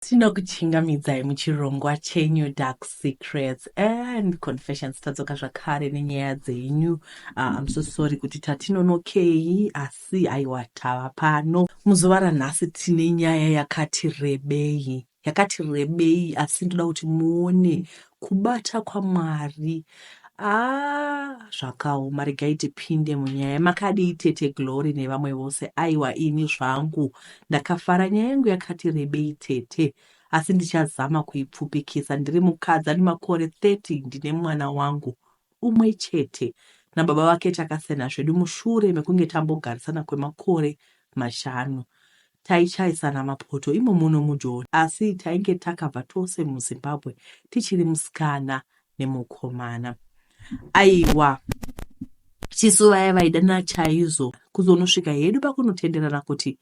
Tinokuchingamidzai muchirongwa chenyu Dark Secrets and Confessions. Tadzoka zvakare nenyaya dzenyu. Uh, I'm so sorry kuti tatinonokei asi aiwa tava pano. Muzuva ranhasi tine nyaya yakati rebei yakati rebei asi ndoda kuti muone Kubata kwaMwari aah zvakaoma regai tipinde munyaya makadii tete Glory nevamwe vose aiwa ini zvangu ndakafara nyaya yangu yakati rebei tete asi ndichazama kuipfupikisa ndiri mukadzi ane makore 30 ndine mwana wangu umwe chete nababa vake takasiyana zvedu mushure mekunge tambogarisana kwemakore mashanu taichayisana mapoto imo muno mujoni asi tainge takabva tose muzimbabwe tichiri musikana nemukomana aiwa tisu vaya vaidana chaizo kuzonosvika hedu pakunotenderana kuti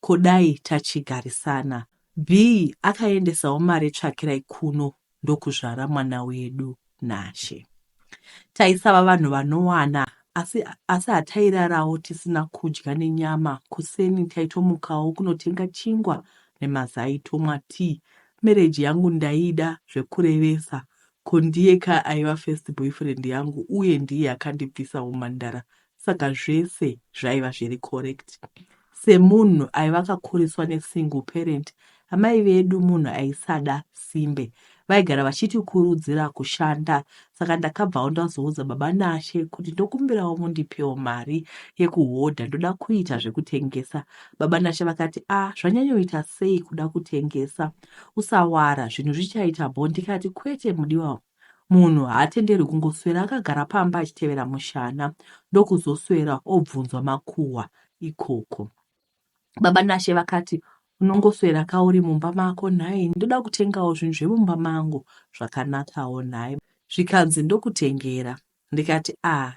kodai tachigarisana b akaendesawo mari tsvakirai kuno ndokuzvara mwana wedu Nashe. Taisava vanhu vanowana asi, asi hatairarawo tisina kudya nenyama. Kuseni taitomukawo kunotenga chingwa nemazai tomwa tii. Mereji yangu ndaida zvekurevesa ko ndiye ka aiva first boyfriend yangu uye ndiye akandibvisa umhandara Saka zvese zvaiva zviri correct. Semunhu aiva akakuriswa nesingle parent, amai vedu munhu aisada simbe vaigara vachitikurudzira kushanda saka ndakabvawo ndazoudza baba nashe kuti ndokumbirawo mundipewo mari yekuhodha ndoda kuita zvekutengesa baba nashe vakati a ah, zvanyanyoita sei kuda kutengesa usawara zvinhu zvichaita bho ndikati kwete mudiwa Munhu haatenderwi kungoswera akagara pamba achitevera mushana ndokuzoswera obvunzwa makuhwa ikoko. Baba Nashe vakati, Unongoswera ka uri mumba mako nhai? Ndoda kutengawo zvinhu zvemumba mangu zvakanakawo nhai? Zvikanzi ndokutengera. Ndikati aah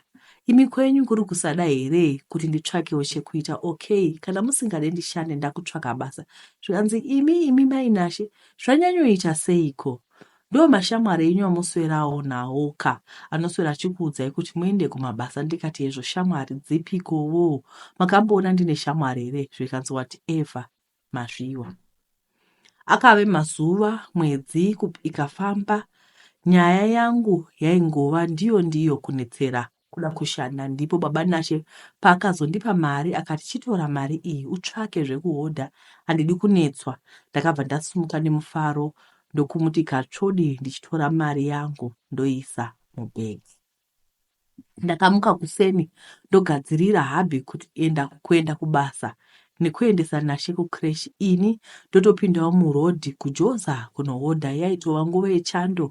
imi kwenyu kuri kusada here kuti nditsvakewo chekuita okay kana musingade ndishande ndakutsvaka basa zvikanzi imi imi mai Nashe zvanyanyoita seiko ndo mashamwari enyu amuswerawo nawo ka anoswera achikuudzai kuti muende kumabasa ndikati hezvo shamwari dzipikowo makamboona ndine shamwari here zvikanzi whatever Masviwa. Akave mazuva, mwedzi ikafamba, nyaya yangu yaingova ndiyo ndiyo kunetsera kuda kushanda. Ndipo baba Nashe paakazondipa mari akati chitora mari iyi utsvake zvekuhodha handidi kunetswa. Ndakabva ndasumuka nemufaro ndokumuti katsvodi ndichitora mari yangu ndoisa mubhegi. ndakamuka kuseni ndogadzirira hubby kuenda kuenda kubasa nekuendesa Nashe kucresh ini ndotopindawo muroad kuJoza kunohodha yaitova nguva yechando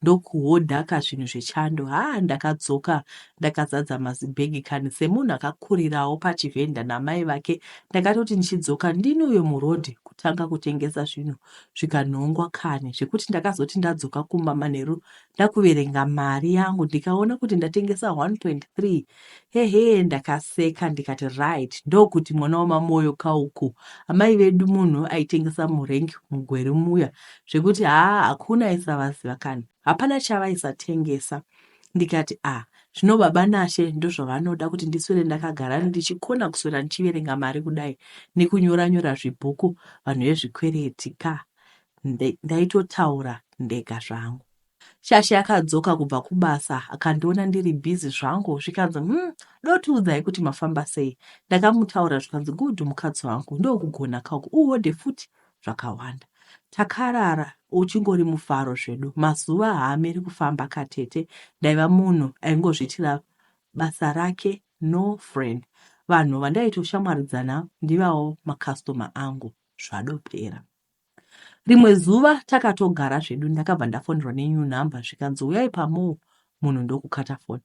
ndokuhodhaka zvinhu zvechando haa ndakadzoka ndakazadza mazibhegi kani semunhu akakurirawo pachivhenda namai vake ndakatoti ndichidzoka ndini uyo muroad kutanga kutengesa zvinhu zvikanhongwa kani zvekuti ndakazoti ndadzoka kumba manheru Ndakuverenga mari yangu ndikaona kuti ndatengesa 1.3 hehe ndakaseka ndikati right ndokuti mwana wamamoyo kauku amai vedu munhu aitengesa murenk mugweri muya zvekuti haa hakuna aisavaziva kani hapana chavaisatengesa ndikati ah zvino baba nashe ndozvavanoda kuti ndiswere ndakagara ndichikona kuswera ndichiverenga mari kudai nekunyora nyora zvibhuku vanhu vezvikwereti ka ndaitotaura ndega zvangu shasha yakadzoka kubva kubasa akandiona ndiri busy zvangu zvikanzi hmm, dotiudzai kuti mafamba sei ndakamutaura zvikanzi good mukadzi wangu ndokugona kauku uhodhe futi zvakawanda takarara uchingori mufaro zvedu mazuva haamiri kufamba katete ndaiva munhu aingozviitira basa rake no friend vanhu vandaitoshamwaridzana ndivavo makastoma angu zvadopera rimwe zuva takatogara zvedu ndakabva ndafonerwa nenew number zvikanzi uyai pamoo munhu ndokukata foni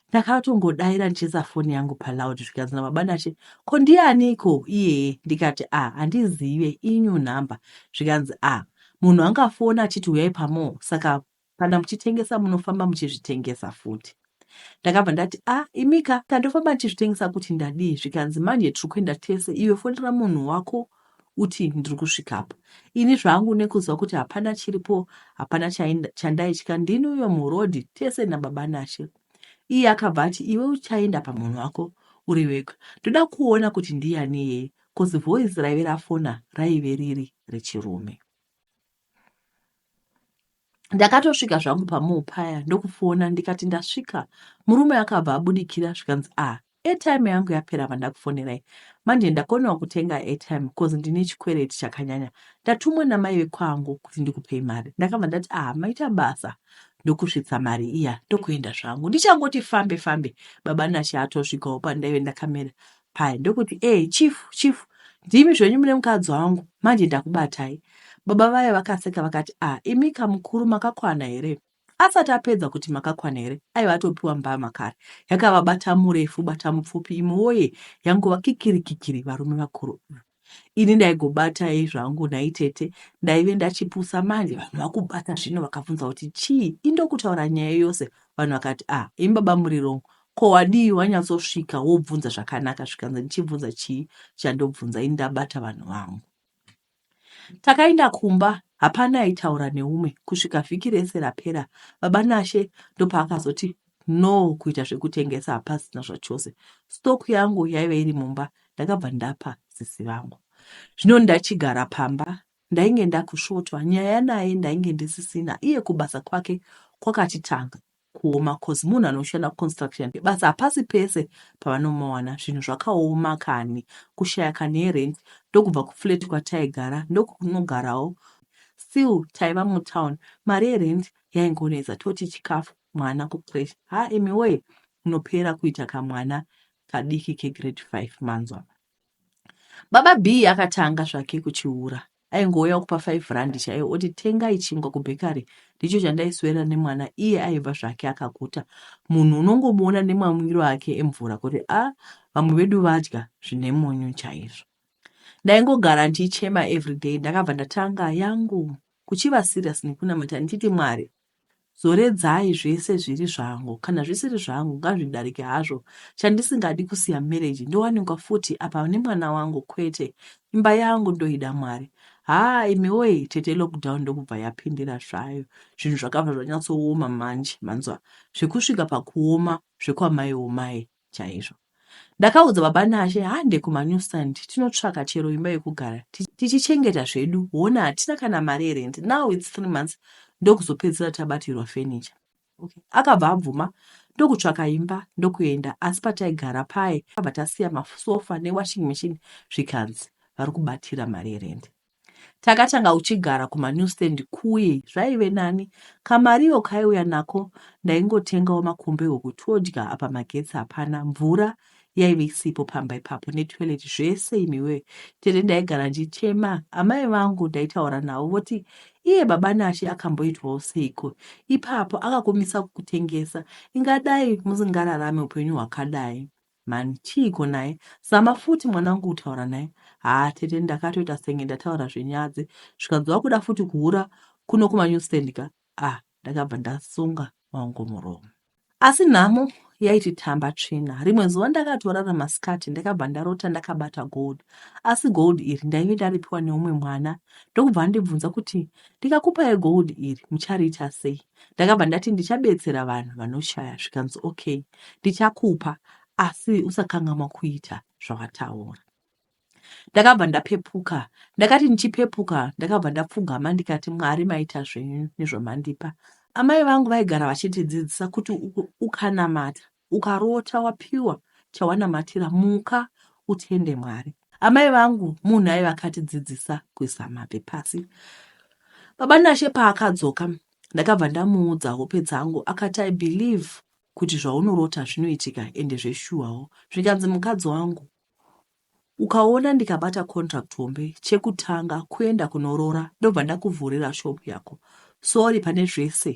ndakatongodaira ndichiisa foni yangu paloud zvikanzi nababa nache ko ndianiko iyeye ndikati a ah, handizive inew number zvikanzi a ah, munhu angafona achiti uyai pamoo saka Kana muchitengesa munofamba muchizvitengesa futi. Ndakabva ndati a ah, imika tandofamba ndichizvitengesa kuti ndadii zvikanzi manje tiri kuenda tese iwe fonera munhu wako uti ndiri kusvikapo ini zvangu nekuziva kuti hapana chiripo hapana chandaitya ndini uyo murodhi tese nababa nashe iye akabva ati iwe uchaenda pamunhu wako uri wega ndoda kuona kuti ndiyani iyeye kozi voice raive rafona raive riri rechirume ndakatosvika zvangu pamuu paya ndokufona ndikati ndasvika murume akabva abudikira zvikanzi a ah, airtime yangu yapera vandakufonerai manje ndakonewa kutenga airtime because ndine chikwereti chakanyanya ndatumwa namai vekwangu kuti ndikupei mari ndakabva ndati a ah, maita basa ndokusvitsa mari iya ndokuenda zvangu ndichangoti fambe fambe baba nashe atosvikawo pandaive ndakamera paya ndokuti ee chief chief ndimi zvenyu mune mukadzi wangu manje ndakubatai baba vaye vakaseka vakati a ah, imika mukuru makakwana here asati apedza kuti makakwana here aiva atopiwa mbama kare yakavabata murefu bata mupfupi imwe woye yangova kikirikikiri varume vakuru mm. ini ndaigobatai zvangu nhai tete ndaive ndachipusa manje vanhu vakubata zvino vakabvunza kuti chii indokutaura nyaya yose vanhu vakati ah imi baba muri rong ko wadii wanyatsosvika wobvunza zvakanaka zvikanzi ndichibvunza chii chandobvunza ini ndabata vanhu vangu takaenda kumba hapana aitaura neumwe kusvika vhiki rese rapera baba nashe ndopaakazoti No kuita zvekutengesa hapasina zvachose. Stock yangu yaive iri mumba ndakabva ndapa sisi vangu. Zvino ndachigara pamba ndainge ndakusvotwa nyaya naye ndainge ndisisina iye kubasa kwake kwakatitanga kuoma cause munhu anoshanda kuconstruction yake basa hapasi pese pavanomawana zvinhu zvakaoma kani kushaya kani yerent ndokubva kuflat kwataigara ndokunogarawo still taiva mutown mari yerent yaingonetsa toti chikafu mwana kucresh ha imi woye unopera kuita kamwana kadiki kegrade 5 manzwa baba b akatanga zvake kuchiura aingouya kupa 5 rand chaiyo oti tengai chingwa kubhekari ndicho chandaiswera nemwana iye aiva zvake akakuta munhu unongomuona nemamwiro ake emvura kuti a ah, vamwe vedu vadya zvine munyu chaizvo ndaingogara ndichichema everyday ndakabva ndatanga yangu kuchiva serious nekunamata ndichiti mwari Zoredzai zvese zviri zvangu kana zvisiri zvangu ngazvidarike hazvo chandisingadi kusiya marriage ndowanikwa futi apa nemwana wangu kwete imba yangu ndoida mwari haa imi woye tete lockdown ndokubva yapindira zvayo zvinhu zvakabva zvanyatsooma manje manzwa zvekusvika pakuoma zvekwamai omai chaizvo. Ndakaudza baba Nashe hande kumanew stand tinotsvaka chero imba yekugara tichichengeta zvedu hona hatina kana mari yerent now its three months ndokuzopedzisira tabatirwa furniture. Okay. Akabva abvuma ndokutsvaka imba ndokuenda asi pataigara paye abva tasiya masofa newashing machine zvikanzi vari kubatira mari yerent. Takatanga kuchigara kumanew stand kuye zvaive nani. Kamariyo kaiuya nako ndaingotengawo makombe huku todya apa magetsi hapana, mvura yaive isipo pamba ipapo netoilet zvese imiwee. Tete ndaigara ndichema, amai vangu ndaitaura navo voti iye baba Nashe akamboitwawo seiko ipapo akakumisa kukutengesa, ingadai musingararame upenyu hwakadai. Mhani chiiko naye. Zama futi mwanangu kutaura naye. Haa tete ndakatoita senge ndataura zvenyadzi zvikanzi wakuda futi kuhura kuno kumanewstand ka ah ndakabva ndasunga wangu muromo. Asi nhamo yaititamba tsvina. Rimwe zuva ndakatorara masikati ndakabva ndarota ndakabata gold. Asi gold iri ndaive ndaripiwa neumwe mwana ndokubva andibvunza kuti ndikakupai gold iri muchariita sei. ndakabva ndati ndichabetsera vanhu vanoshaya zvikanzi okay ndichakupa asi usakangamwa kuita zvawataura ndakabva ndapepuka ndakati ndichipepuka ndakabva ndapfugama ndikati mwari maita zvenyu nezvamandipa amai vangu vaigara vachitidzidzisa kuti ukanamata Ukarota wapiwa chawanamatira muka utende Mwari. Amai vangu munhu aiva akatidzidzisa kuisa mabvi pasi. Baba Nashe paakadzoka ndakabva ndamuudza hope dzangu akati I believe kuti zvaunorota zvinoitika ende zveshuwawo zvikanzi mukadzi wangu Ukaona ndikabata contract hombe chekutanga kuenda kunorora ndobva ndakuvhurira shop yako sorry pane zvese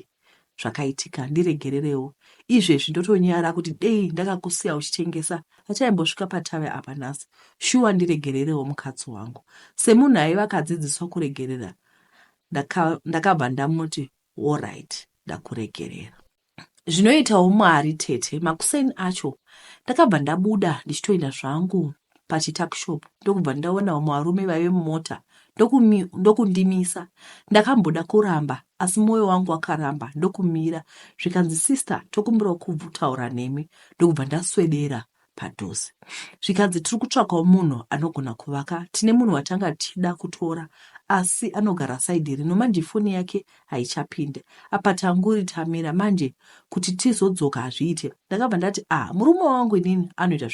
zvakaitika ndiregererewo izvezvi ndotonyara kuti dei ndakakusiya uchitengesa hachaimbosvika patave apa nhasi shuwa ndiregererewo mukadzi wangu semunhu aiva akadzidziswa kuregerera ndakabva ndamuti allright ndakuregerera zvinoitawo Mwari tete. Makuseni acho ndakabva ndabuda ndichitoenda zvangu pachituckshop ndokubva ndaona vamwe varume vaive mumota ndokundimisa ndakamboda kuramba asi mwoyo wangu wakaramba ndokumira zvikanzi sister tokumbirawo kubvutaura nemi ndokubva ndaswedera padhuze zvikanzi tiri kutsvakawo munhu anogona kuvaka tine munhu watanga tichida kutora asi anogara saidi rino manje foni yake haichapinde apa tanguri tamira manje kuti tizodzoka hazviite ndakabva ndati ah murume wangu inini anoita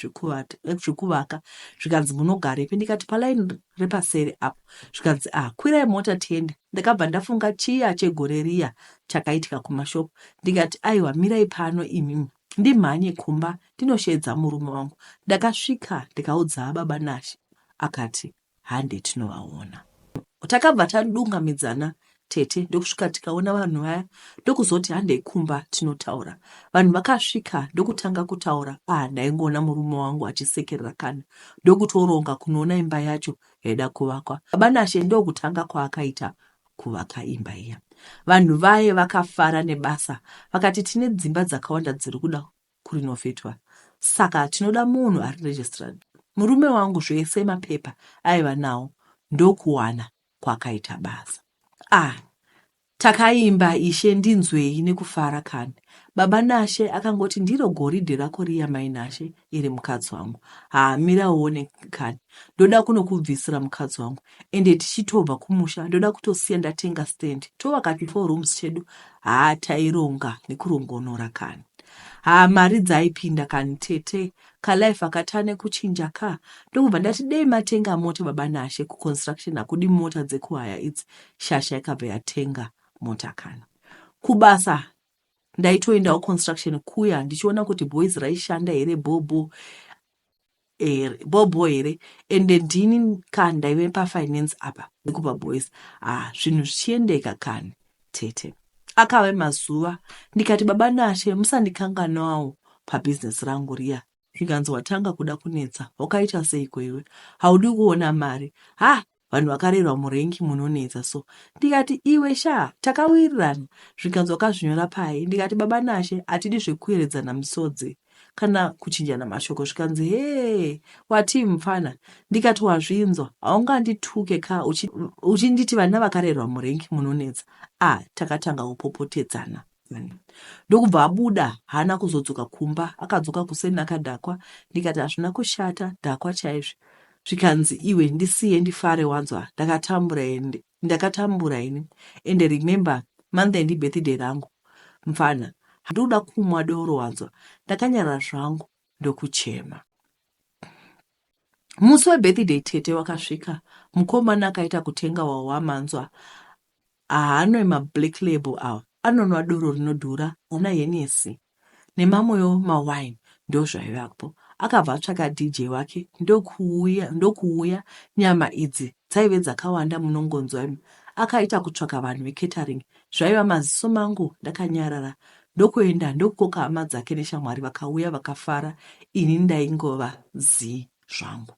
zvekuvaka zvikanzi munogarepi ndikati palaini repaseri apo zvikanzi ah kwirai mota tiende ndakabva ndafunga chiya chegore riya chakaitika kumashopu ndikati aiwa mirai pano imimi ndimhanye kumba ndinosheedza murume wangu ndakasvika ndikaudza baba Nashe akati hande tinovaona takabva tadunga midzana tete ndokusvika tikaona vanhu vaya ndokuzoti handei kumba tinotaura vanhu vakasvika ndokutanga kutaura ah ndaingoona murume wangu achisekerera kana ndokutoronga kunoona imba yacho yaida kuvakwa baba Nashe ndokutanga kwaakaita kuvaka imba iya. Vanhu vaye vakafara nebasa vakati tine dzimba dzakawanda dziri kuda kurinovhetwa saka tinoda munhu ari registrad. Murume wangu zvese mapepa aiva nawo ndokuwana kwakaita basa. Ah, takaimba ishe ndinzwei nekufara kani. Baba Nashe akangoti ndiro goridhe rako riya mai Nashe iri mukadzi wangu. Haa mira uone kani. Ndoda kunokubvisira mukadzi wangu. ende tichitobva kumusha ndoda kutosiya ndatenga stand tovaka ti four rooms chedu haa taironga nekurongonora kani haa mari dzaipinda kani tete kalife akatane kuchinja ka ndokubva ndati dei matenga mota baba nashe kuconstruction hakudi mota dzekuhaya idzi shasha ikabva yatenga mota kani kubasa ndaitoendawo construction kuya ndichiona kuti boys raishanda here bhobho here bhobho here ende ndini ka ndaive pafinance apa nekupa boys ha ah, zvinhu zvichiendeka kani tete akave mazuva ndikati baba nashe musandikanganawo pabhizinesi rangu riya zvikanzi watanga kuda kunetsa wakaita seiko iwe haudi kuona mari ha Vanhu vakarerwa murenk munonetsa so ndikati iwe shaa takawirirana zvikanzi wakazvinyora pai ndikati baba Nashe hatidi zvekuyeredzana misodzi kana kuchinjana mashoko zvikanzi hee watii mupfana ndikati wazvinzwa haungandituke ka uchinditi vana vakarerwa murenk munonetsa ah takatanga kupopotedzana ndokubva abuda haana kuzodzoka kumba akadzoka kuseni akadhakwa ndikati hazvina kushata dhakwa chaizvo zvikanzi iwe ndisiye ndifare wanzwa ndakatambura ende ndakatambura ini ende remember monday ndibirthday rangu mfana handikuda kumwa doro wanzwa ndakanyara zvangu ndokuchema musi webirthday tete wakasvika mukomana akaita kutenga wawamanzwa Haanwe ma black label awa anonwa doro rinodhura ana Hennessy nemamwewo ma wine ndozvaivapo akabva atsvaka DJ wake ndokuuya ndokuuya nyama idzi dzaive dzakawanda munongonzwa imi akaita kutsvaka vanhu ve catering zvaiva maziso mangu ndakanyarara ndokuenda ndokukoka hama dzake neshamwari vakauya vakafara ini ndaingova zii zvangu.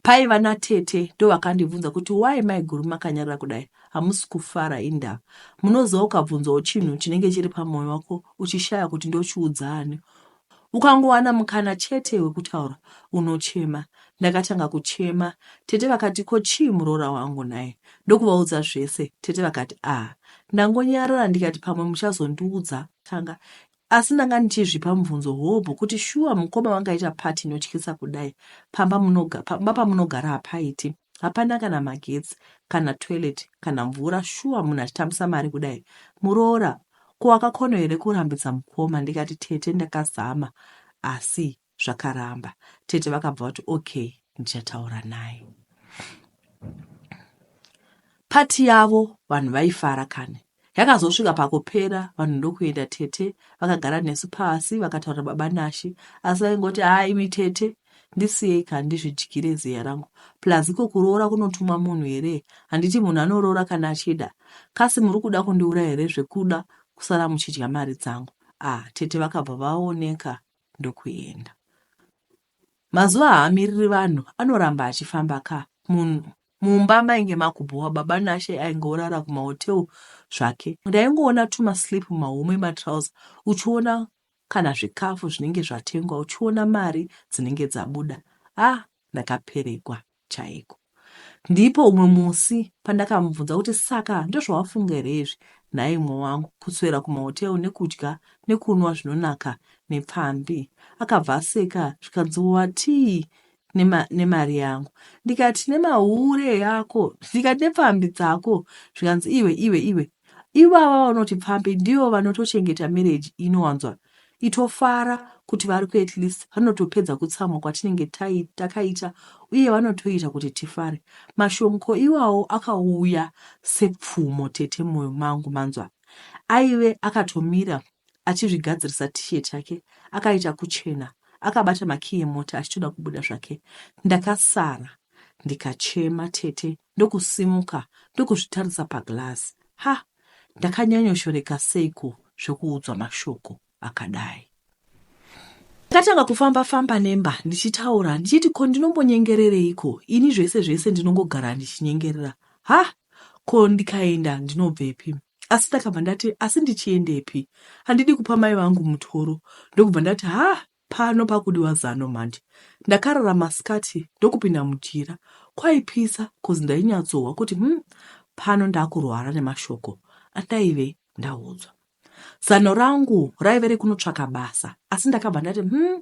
paiva natete ndovakandibvunza kuti why maiguru makanyarara kudai hamusi kufara indava munoziva ukabvunzawo chinhu chinenge chiri pamwoyo wako uchishaya kuti ndochiudza ani ukangowana mukana chete wekutaura unochema ndakatanga kuchema tete vakati ko chii muroora wangu naye ndokuvaudza zvese tete vakati ah ndangonyarara ndikati pamwe muchazondiudza tanga Asi ndanga ndichizvipa mubvunzo hobho kuti shuwa mukoma vangaita party inotyisa kudai pamba munoga, pamba pamunogara hapaiti hapana kana magetsi kana toilet kana mvura shuwa munhu achitambisa mari kudai muroora ko wakakono here kurambidza mukoma ndikati tete ndakazama asi zvakaramba tete vakabva vati okay ndichataura naye pati yavo vanhu vaifara kani yakazosvika pakupera vanhu ndokuenda tete vakagara nesu pasi vakataura baba nashe asi vaingoti haa imi tete ndisiyei ka ndizvidyire ziya rangu plus iko kuroora kunotumwa munhu here handiti munhu anoroora kana achida kasi muri kuda kundiura here zvekuda kusara muchidya mari dzangu ah tete vakabva vaoneka ndokuenda. Mazuva haamiriri vanhu anoramba achifamba ka munhu mumba mainge makubhowa baba nashe ainge orara kumahotel zvake ndaingoona tumaslip mumahomwe matrauser uchiona kana zvikafu zvinenge zvatengwa uchiona mari dzinenge dzabuda ah ndakaperegwa chaiko. Ndipo umwe musi pandakamubvunza kuti saka ndozvawafunga here izvi nhai umwe wangu kuswera kumahotel nekudya nekunwa zvinonaka nepfambi. Akabva aseka zvikanzi watii nema, nemari yangu ndikati nemahure yako ndikati nepfambi dzako zvikanzi iwe iwe iwe Ivava vanoti pfambi ndivo vanotochengeta marriage inowanzwa itofara kuti vari ku at least vanotopedza kutsamwa kwatinenge takaita uye vanotoita kuti tifare. Mashomko iwawo akauya sepfumo tete moyo mangu manzwa. Aive akatomira achizvigadzirisa t-shirt yake akaita kuchena akabata makiyi emota achitoda kubuda zvake. Ndakasara ndikachema tete ndokusimuka ndokuzvitarisa paglazi. Ha! Ndakanyanyoshoreka seiko zvekuudzwa mashoko akadai. Ndakatanga kufamba famba nemba ndichitaura ndichiti ko ndinombonyengerereiko ini zvese zvese ndinongogara ndichinyengerera. Ha! Ko ndikaenda ndinobvepi? Asi ndakabva ndati asi ndichiendepi? Handidi kupa mai vangu mutoro ndokubva ndati ha! Pano pakudiwa zano mhandi. Ndakarara masikati ndokupinda mujira. Kwaipisa coz ndainyatsohwa kuti umm pano ndakurwara nemashoko andaive ndaudzwa. Zano rangu raive rekunotsvaka basa asi ndakabva ndati umm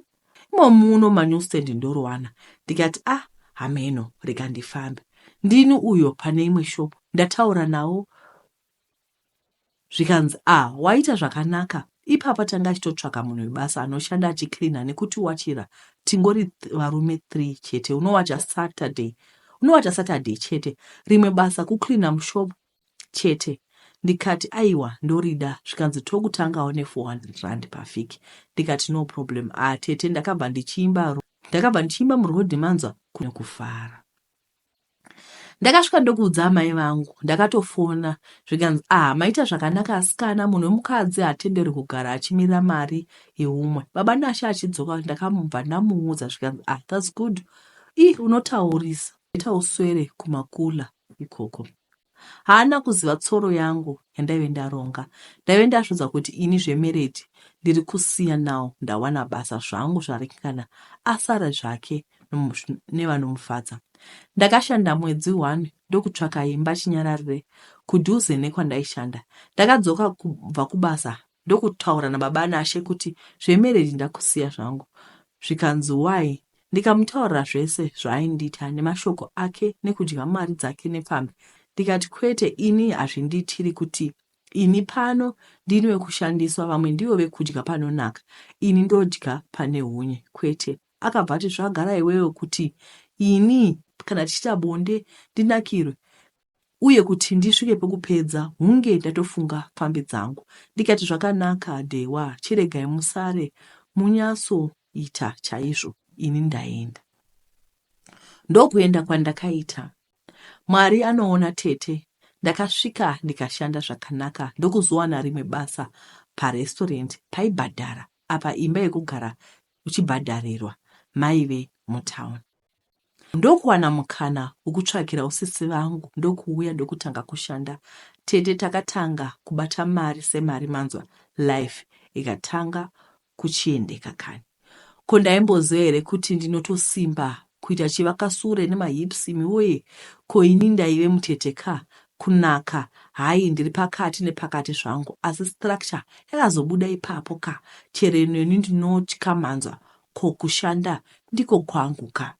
imo muno manewstand ndoriwana ndikati ah hameno rega ndifambe. Ndini uyo pane imwe shop ndataura nawo zvikanzi ah waita zvakanaka ipapa tanga achitotsvaka munhu webasa anoshanda achicleana nekuti wachira tingori th varume three chete unowacha saturday unowacha saturday chete rimwe basa kucleana mushop chete ndikati aiwa ndorida zvikanzi tokutangawo ne400 rand pavhiki ndikati no problem ah tete ndakabva ndichiimba ndakabva ndichiimba muroad manzwa kunekufara ndakasvika ndokuudza amai vangu ndakatofona zvikanzi ah maita zvakanaka asikana munhu wemukadzi hatenderwi kugara achimirira mari yeumwe baba nashe achidzoka ndakamubva ndamuudza zvikanzi ah thats good i unotaurisa ita uswere kumakula ikoko Haana kuziva tsoro yangu yandaive ndaronga. Ndaive ndazviudza kuti ini zvemereji ndiri kusiya now ndawana basa zvangu zvaringana asara zvake nevanomufadza. Ndakashanda mwedzi one ndokutsvaka imba chinyararire kudhuze nekwandaishanda. Ndakadzoka kubva kubasa ndokutaura nababa Nashe kuti zvemarriage ndakusiya zvangu zvikanzi why ndikamutaurira zvese zvaaindiita nemashoko ake nekudya mari dzake nepfambi ndikati kwete ini hazvindiitiri kuti ini pano ndini wekushandiswa vamwe ndivo vekudya panonaka ini ndodya pane hunye kwete akabva ati zvagara iwewe kuti ini kana tichiita bonde ndinakirwe uye kuti ndisvike pekupedza hunge ndatofunga pfambi dzangu ndikati zvakanaka Dhewa chiregai musare munyatso ita chaizvo ini ndaenda ndokuenda kwandakaita Mwari anoona tete ndakasvika ndikashanda zvakanaka ndokuzowana rimwe basa parestaurant paibhadhara apa imba yekugara uchibhadharirwa maive mutown Ndokuwana mukana wekutsvagira usisi vangu ndokuuya ndokutanga kushanda tete takatanga kubata mari semari manzwa life ikatanga kuchiendeka kani ko ndaimboziva here kuti ndinotosimba kuita chivakasure nemahips imi woye ko ini ndaive mutete ka kunaka hayi ndiri pakati nepakati zvangu asi structure yakazobuda ipapo ka chero inoni ndinotya manzwa Ko kushanda ndiko kwangu ka.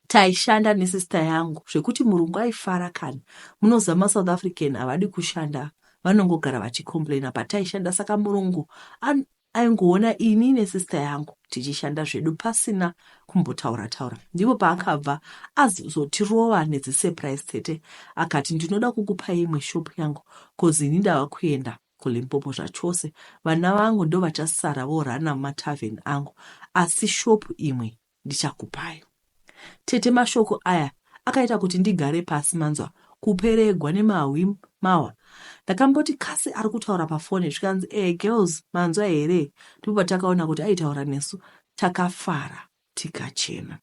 Taishanda nesister yangu zvekuti murungu aifara kana. Munoziva maSouth African havadi kushanda vanongogara vachicomplaina pataishanda saka murungu an, aingoona ini nesister yangu tichishanda zvedu pasina kumbotaura taura. Ndipo paakabva azotirova nedzisurprise tete akati ndinoda kukupai imwe shop yangu kozi ini ndava kuenda kuLimpopo zvachose vana vangu ndovachasara vorunner matavern angu asi shop imwe ndichakupai tete mashoko aya akaita kuti ndigare pasi manzwa kuperegwa nemahwi mawa ndakamboti kasi ari kutaura pafone zvikanzi ee girls manzwa here ndipo patakaona kuti aitaura nesu takafara tikachena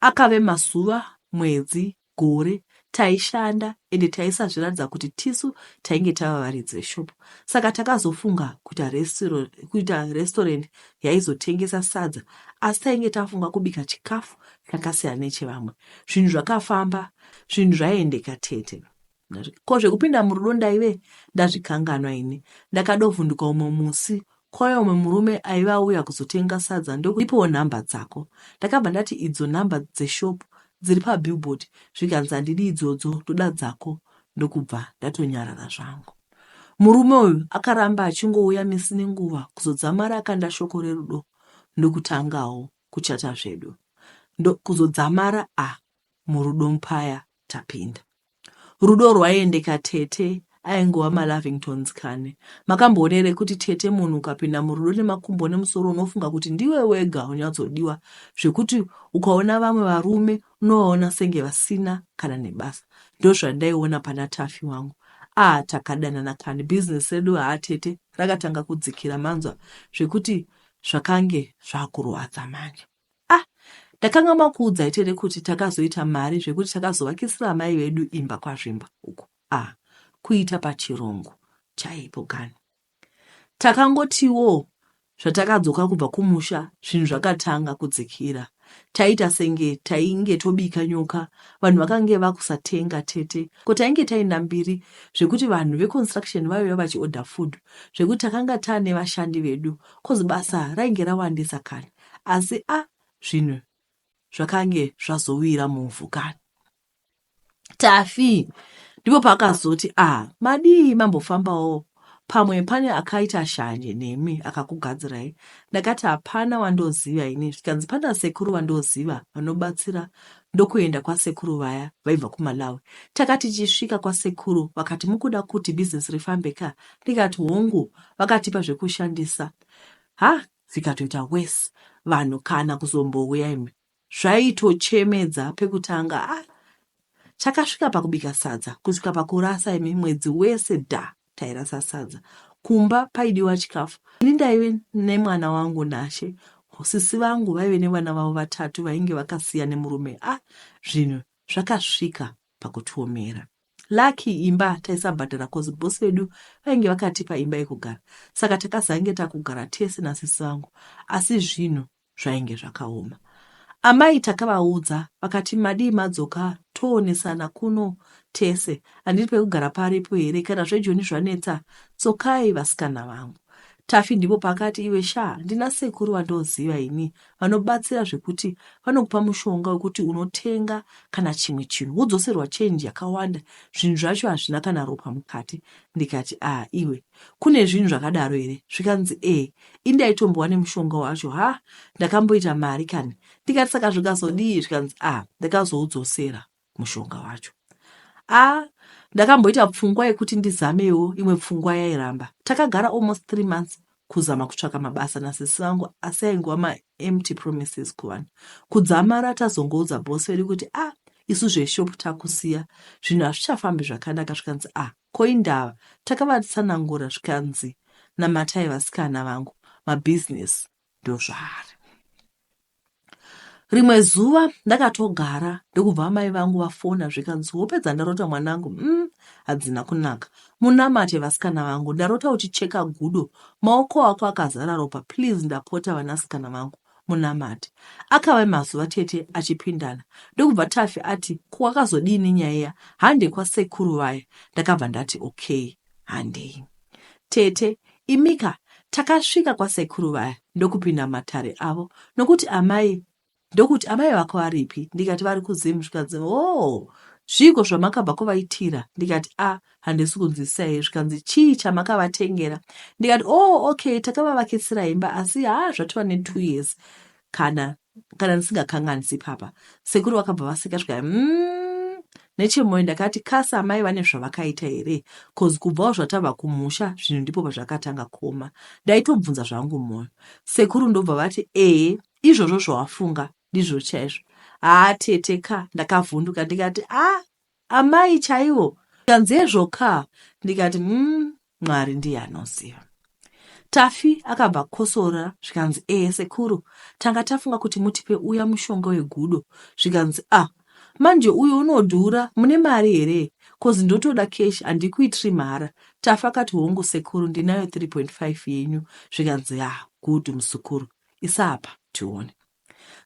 akave mazuva mwedzi gore taishanda ende taisazviratidza kuti tisu tainge tava varidzi veshop saka takazofunga kuita kuita restaurant yaizotengesa sadza asi tainge tafunga kubika chikafu chakasiyana nechevamwe zvinhu zvakafamba zvinhu zvaiendeka tete Ko zvekupinda murudo ndaive ndazvikanganwa ini. Ndakadovhunduka umwe musi kwauya umwe murume aive auya kuzotenga sadza ndokundipawo nhamba dzako. Ndakabva ndati idzo nhamba dzeshop dziri pabillboard zvikanzi handidi idzodzo ndoda dzako ndokubva ndatonyarara zvangu. Murume uyu akaramba achingouya misi nenguva kuzodzamara akanda shoko rerudo ndokutangawo kuchata zvedu. Ndokuzodzamara a ah, murudo mpaya tapinda. Rudo rwaiendeka tete aingova malavingtons kani makamboona here kuti tete munhu ukapinda murudo nemakumbo nemusoro unofunga kuti ndiwe wega unyatsodiwa zvekuti ukaona vamwe varume unovaona senge vasina kana nebasa ndozvandaiona pana tafi wangu aa takadanana kani bhizinesi redu haa tete rakatanga kudzikira manzwa zvekuti zvakange zvakurwadza manje ah ndakanga makuudza itere kuti takazoita mari zvekuti takazovakisira amai vedu imba kwazvimba uko ah kuita pachirungu chaipo kani takangotiwo zvatakadzoka kubva kumusha zvinhu zvakatanga kudzikira taita senge tainge tobika nyoka vanhu vakange vakusatenga tete ko tainge taenda mbiri zvekuti vanhu veconstruction vaiva vachiorder food zvekuti takanga tane vashandi vedu kozi basa rainge rawandisa kani Asi a zvinhu zvakange zvazowira muvhu kani. Tafi ndipo paakazoti a madii mambofambawo pamwe pane akaita shanje nemi akakugadzirai ndakati hapana wandoziva ini zvikanzi pana sekuru vandoziva vanobatsira ndokuenda kwasekuru vaya vaibva kumalawi takati chisvika kwasekuru vakati mukuda kuti bhizinesi rifambe ka ndikati hongu vakatipa zvekushandisa ha zvikatoita worse vanhu kana kuzombouya imwe zvaitochemedza pekutanga ah chakasvika pakubika sadza kusvika pakurasa imi mwedzi wese da tairasa sadza kumba paidiwa chikafu ini ndaive nemwana wangu nashe sisi vangu vaive nevana vavo vatatu vainge vakasiya nemurume a ah, zvinhu zvakasvika pakutuomera Lucky imba taisabhadhara cause boss vedu vainge vakatipa imba yekugara saka takazange takugara tese nasisi vangu asi zvinhu zvainge zvakaoma. Amai takavaudza vakati madii madzoka toonesana kuno tese handiri pekugara paripo here kana zvejoni zvanetsa tsokai vasikana vangu. Tafi ndipo pakati iwe shaa ndina sekuru vandoziva ini vanobatsira zvekuti vanokupa mushonga wekuti unotenga kana chimwe chinhu wodzoserwa chenji yakawanda zvinhu zvacho hazvina kana ropa mukati ndikati a ah, iwe kune zvinhu zvakadaro here zvikanzi ee indaitombowa nemushonga wacho ha ndakamboita mari kani ndikati saka zvikazodii zvikanzi a ah, ndakazoudzosera mushonga wacho ah ndakamboita pfungwa yekuti ndizamewo imwe pfungwa yairamba takagara almost three months kuzama kutsvaka mabasa nasisi vangu asi aingova maempty promises kuvanhu kudzamara tazongoudza bosi vedu kuti ah isu zveshop takusiya zvinhu hazvichafambi zvakanaka zvikanzi ah koindava takavatsanangura zvikanzi namatai vasikana vangu mabhizinesi ndozvaari rimwe zuva ndakatogara ndokubva amai vangu vafona zvikanzi wopedza ndarota mwanangu um mm, hadzina kunaka munamate vasikana vangu ndarota uchicheka gudo maoko ako akazara ropa please ndapota vanasikana vangu munamate akava mazuva tete achipindana ndokubva tafi ati kuwakazodii nenyaya iya hande kwasekuru vaya ndakabva ndati okay handei tete imika takasvika kwasekuru vaya ndokupinda matare avo nokuti amai ndokuti amai vako varipi ndikati vari kuzim zvikanzi o oh, zviiko zvamakabva kuvaitira ndikati a ah, handisi kunzwisisaiye zvikanzi chii chamakavatengera ndikati o oh, okay takavavakisira imba asi haa zvatova netwo years Kana kana ndisingakanganisi ipapa sekuru vakabva vaseka zvikai mm, nechemoyo ndakati kasi amai vane zvavakaita here cause kubvawo zvatava kumusha zvinhu ndipo pazvakatanga koma ndaitobvunza zvangu moyo sekuru ndobva vati ee izvozvo zvawafunga ndizvo chaizvo haa tete ka ndakavhunduka ndikati a ah, Amai chaivo zvikanzi hezvo kaa ndikati mm, Mwari ndiye anoziva. Taffy akabva akosora zvikanzi ee sekuru tanga tafunga kuti mutipe uya mushonga wegudo zvikanzi ah manje uyo unodhura mune mari here kozi ndotoda keshi handikuitiri mhara tafi akati hongu sekuru ndinayo 3.5 yenyu zvikanzi ya ah, good musukuru isapa tione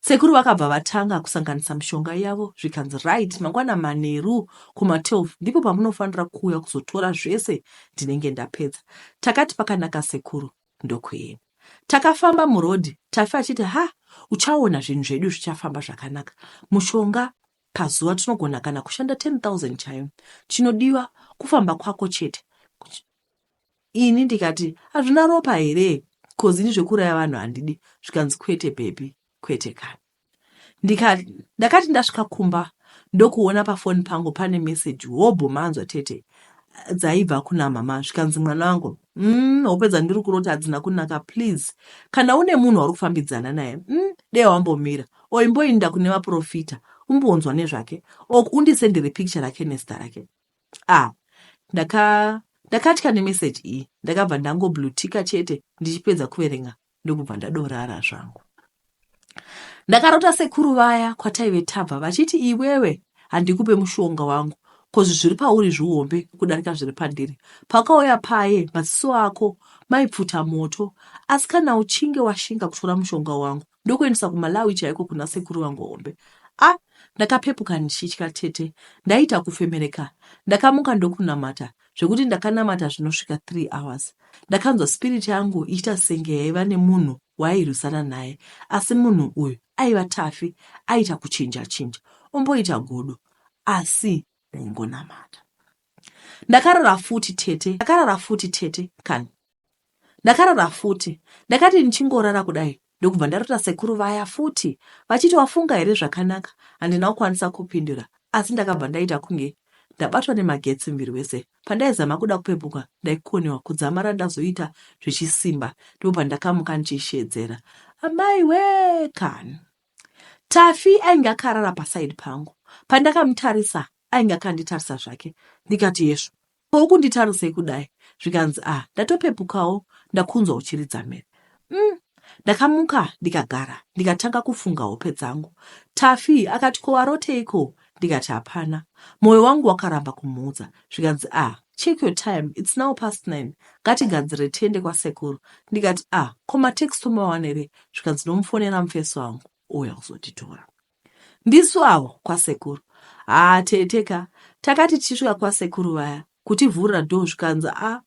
Sekuru vakabva vatanga kusanganisa mishonga yavo zvikanzi right mangwana manheru kuma 12 ndipo pamunofanira kuuya kuzotora zvese ndinenge ndapedza. Takati pakanaka sekuru ndokuenda. Takafamba muroad Tafi achiti ha uchaona zvinhu zvedu zvichafamba zvakanaka. Mushonga pazuva tinogona kana kushanda 10,000 chaiyo. Chinodiwa kufamba kwako chete. Ini ndikati hazvina ropa here coz ini zvekuraya vanhu handidi zvikanzi kwete bhebhi kwete kani ndikati ndakati ndasvika kumba ndokuona pafoni pangu pane meseji hobho manzwa tete dzaibva kuna mama zvikanzi mwana wangu mm, hope dzandiri kurota hadzina kunaka please kana une munhu wauri kufambidzana naye mm, dee wambomira oimboinda kune vaprofita umbonzwa nezvake ok undisendere picture rake nezita rake Ah, ndaka ndakatya nemessage iyi ndakabva ndangoblutika chete ndichipedza kuverenga ndokubva ndadorara zvangu ndakarota sekuru vaya kwataive tabva vachiti iwewe handikupe mushonga wangu kozi zviri pauri zvihombe kudarika zviri pandiri pakauya paye maziso ako maipfuta moto asi kana uchinge washinga kutora mushonga wangu ndokuendesa kumalawi chaiko kuna sekuru vangu hombe a ah, ndakapepuka ndichitya tete ndaiita kufemereka ndakamuka ndokunamata zvekuti ndakanamata zvinosvika three hours ndakanzwa spiriti yangu ichiita senge yaiva nemunhu waairwisana naye asi munhu uyu aiva tafi aiita kuchinja chinja omboita godo asi ndaingonamata ndakarara futi tete ndakarara futi tete kani Ndakarara futi. Ndakati ndichingorara kudai ndokubva ndarota sekuru vaya futi vachiti wafunga here zvakanaka handina kukwanisa kupindura asi ndakabva ndaita kunge ndabatwa nemagetsi muviri wese pandaizama kuda kupepuka ndaikonewa kudzamara ndazoita zvechisimba ndipo pandakamuka ndichishedzera amai wee kani tafi ainge akarara pasaidi pangu pandakamutarisa ainge akanditarisa zvake ndikati yesvo Ko ukunditarisei kudai? Zvikanzi ah ndatopepukawo ndakunzwa uchiridza mhere. Umm ndakamuka ndikagara ndikatanga kufunga hope dzangu. Taffy akati ko waroteiko ndikati hapana. Moyo wangu wakaramba kumuudza zvikanzi ah check your time it's now past 9 ngatigadzire tiende kwasekuru ndikati ah ko matext tomawanere zvikanzi ndomufonera mufesi wangu ouya kuzotitora. Ndisu avo kwasekuru. Haa tete ka takati tichisvika kwasekuru vaya kutivhurira door zvikanzi a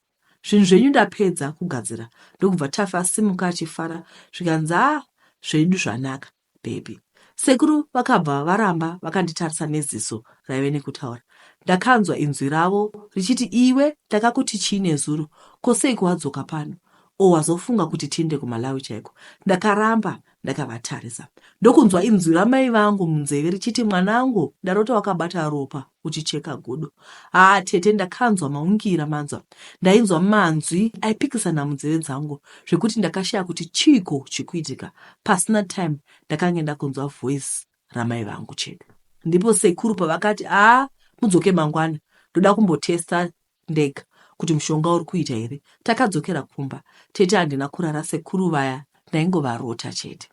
zvinhu zvenyu ndapedza kugadzira ndokubva tafa asimuka achifara zvikanzi a zvedu zvanaka baby. Sekuru vakabva varamba vakanditarisa neziso raive nekutaura. Ndakanzwa inzwi ravo richiti iwe ndakakuti chii nezuro ko seiko wadzoka pano or wazofunga kuti tiinde kuMalawi chaiko. Ndakaramba Ndakavatarisa ndokunzwa inzwi ramai vangu munzeve richiti mwanangu ndarota wakabata ropa uchicheka gudo. Haa tete ndakanzwa maungira manzwa. Ndainzwa manzwi aipikisana munzeve dzangu zvekuti ndakashaya kuti chiiko chikuitika. Pasina time ndakange ndakunzwa voice ramai vangu chedu. Ndipo sekuru pavakati aa mudzoke mangwana ndoda kumbotesta ndega kuti mushonga uri kuita here. Takadzokera kumba tete handina kurara sekuru vaya ndaingovarota chete.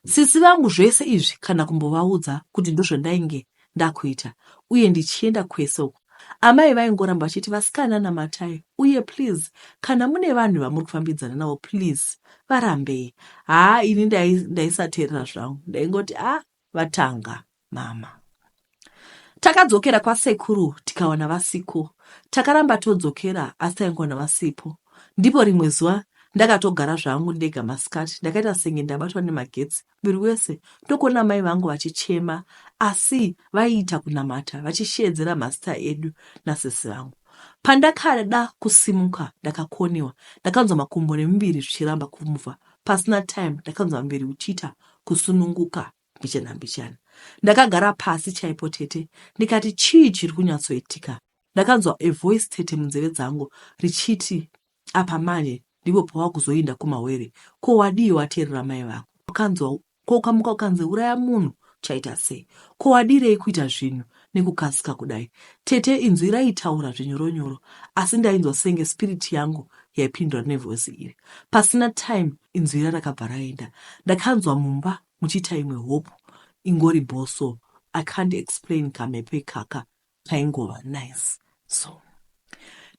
Sisi vangu zvese izvi kana kumbovaudza kuti ndozvandainge ndakuita uye ndichienda kwese uku amai vaingoramba vachiti vasikana namatai uye please kana mune vanhu vamuri kufambidzana navo please varambei haa ini ndaisateerera zvangu ndaingoti a ah, vatanga mama takadzokera kwasekuru tikawana vasiko takaramba todzokera asi taingowana vasipo ndipo rimwe zuva ndakatogara zvangu ndega masikati ndakaita senge ndabatwa nemagetsi muviri wese ndokuona mai vangu vachichema asi vaiita kunamata vachisheedzera mazita edu nasisi vangu pandakada kusimuka ndakakoniwa ndakanzwa makumbo nemuviri zvichiramba kumuvha pasina time ndakanzwa muviri uchiita kusununguka mbichana mbichana. Ndakagara pasi chaipo tete ndikati chii chiri kunyatsoitika. Ndakanzwa a voice tete munzeve dzangu richiti apa manje ndipo pawakuzoinda kumawere ko wadii wateerera mai vako ukanzwa ko ukamuka ukanzi uraya munhu chaita sei ko wadirei kuita zvinhu nekukasika kudai tete inzwi raitaura zvinyoronyoro asi ndainzwa senge spiriti yangu yaipindura nevoice iri pasina time Inzwi riya rakabva raenda. Ndakanzwa mumba muchiita imwe hope ingori bho so I can't explain kamhepo ikaka kaingova nice so.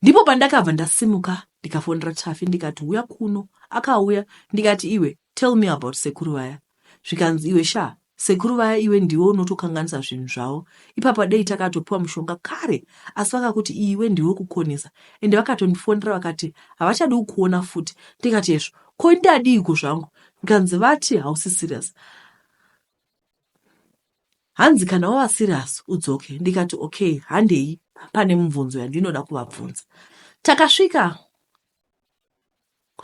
Ndipo pandakabva ndasimuka ndikafonera Taffy ndikati huya kuno. Akauya ndikati iwe tell me about sekuru vaya. zvikanzi iwe shaa sekuru vaya iwe ndiwe unotokanganisa zvinhu zvavo ipapa dei takatopiwa mushonga kare asi vakakuti iwe ndiwe kukonesa ende vakatondifonera vakati havachadi kukuona futi ndikati hezvo ko ndadiiko zvangu zvikanzi vati hausi serious hanzi kana wava serious udzoke ndikati okay handei pane mubvunzo yandinoda kuvabvunza takasvika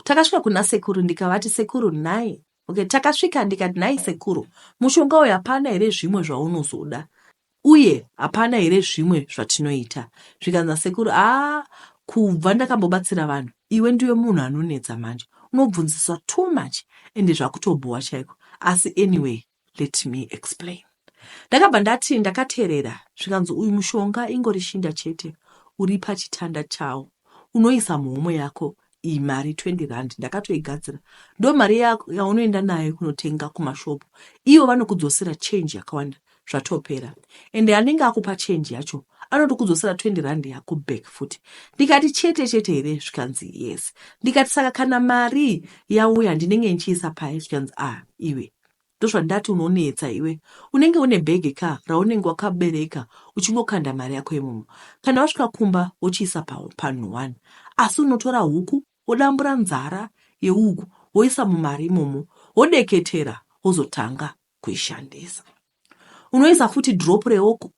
takasvika kuna sekuru ndikavati sekuru nhai Okay, takasvika ndikati nhai sekuru, mushonga uyu hapana here zvimwe zvaunozoda uye hapana here zvimwe zvatinoita? Zvikanzi nasekuru, aa kubva ndakambobatsira vanhu iwe ndiwe munhu anonetsa manje unobvunziswa too much ende zvakutobhowa chaiko asi anyway let me explain ndakabva ndati ndakaterera zvikanzi uyu mushonga ingori shinda chete uri pachitanda chawo unoisa muhomwe yako iyi mari 20 rand ndakatoigadzira ndomari yaunoenda nayo kunotenga kumashop ivo vanokudzosera change yakawanda zvatopera ende anenge akupa change yacho anoti kudzosera 20 rand yako back futi ndikati chete chete here zvikanzi yes ndikati saka kana mari yauya ndinenge ndichiisa paye zvikanzi a ah, iwe Ndozvandati unonetsa iwe unenge une bag ka raunenge wakabereka uchingokanda mari yako imomo kana wasvika kumba wochiisa panhu one asi unotora huku wodambura nzara yeuku woisa mumari imomo wodeketera wozotanga kuishandisa unoisa futi drop